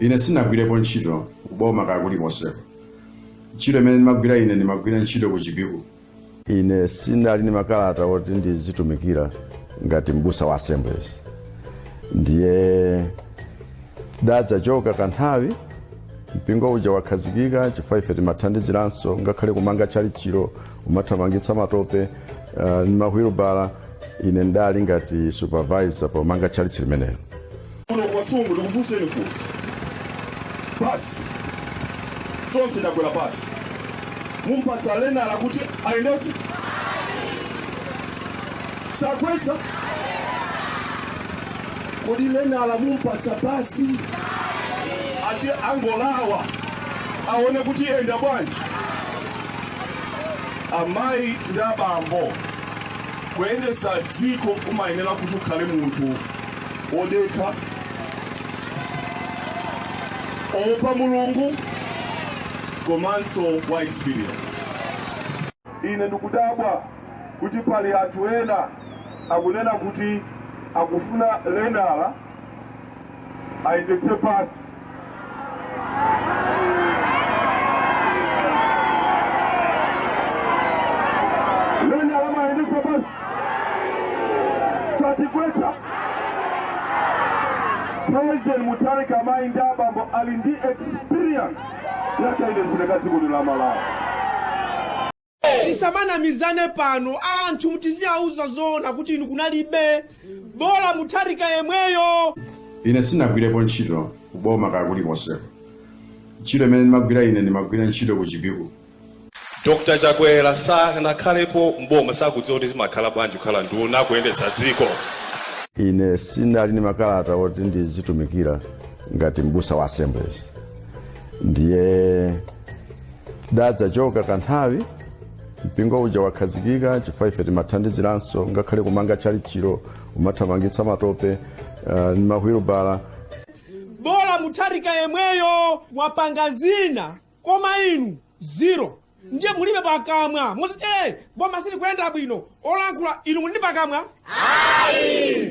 ine sinagwirepo ntchito kuboma kaya kulikonseko ntchito imene ndimagwira ine ndimagwira ntchito ku chipiku ine sinali ndi makalata oti ndizitumikira ngati mbusa wa assemblies ndiye tidadzachoka kanthawi mpingo uja wakhazikika chifukwa ife timathandiziranso ngakhale kumanga tchalitchilo kumathamangitsa matope uh, ndi mahwilubala ine ndali ngati supervisor pomanga tchalitchi limenelo kuno ku Kasungu ndikufunseni funsi basi tonse takwera basi, mumpatsa lenala kuti ayendetse sagwetsa kodi lenala mumpatsa basi ati angolawa aone kuti iyenda bwanji amayi ndi abambo kuyendesa dziko kumayenera kuti ukhale munthu wodekha woopa mulungu komanso wa experience ine ndikudabwa kuti pali anthu ena akunena kuti akufuna lenala ayendetse basi Lenala ayendetse basi? Satigwetsa. President Mutharika amayi ndi abambo ali ndi experience yakayendetsedwe ka dziko lino la Malawi. tisamanamizane pano anthu muziwauza zoona kuti inu kunalibe bola mutharika yemweyo ine sinagwirepo ntchito kuboma kaya kulikonseko ntchito imene ndimagwira ine ndimagwira ntchito ku chipiku dr chakwera sanakhalepo mboma sakudziwa kuti zimakhala bwanji kukhala nduna kuyendetsa dziko ine sinali ndi makalata oti ndizitumikira ngati mbusa wa assemblies ndiye tidadzachoka kanthawi mpingo uja wakhazikika chifukwa ife timathandiziranso ngakhale kumanga tchalitchilo umathamangitsa matope uh, ndi mahwilubala bola mutharika yemweyo wapanga zina koma inu zero ndiye mulibe pakamwa muziti "Eh, boma silikuyenda bwino olankhula inu muli ndi pakamwa ayi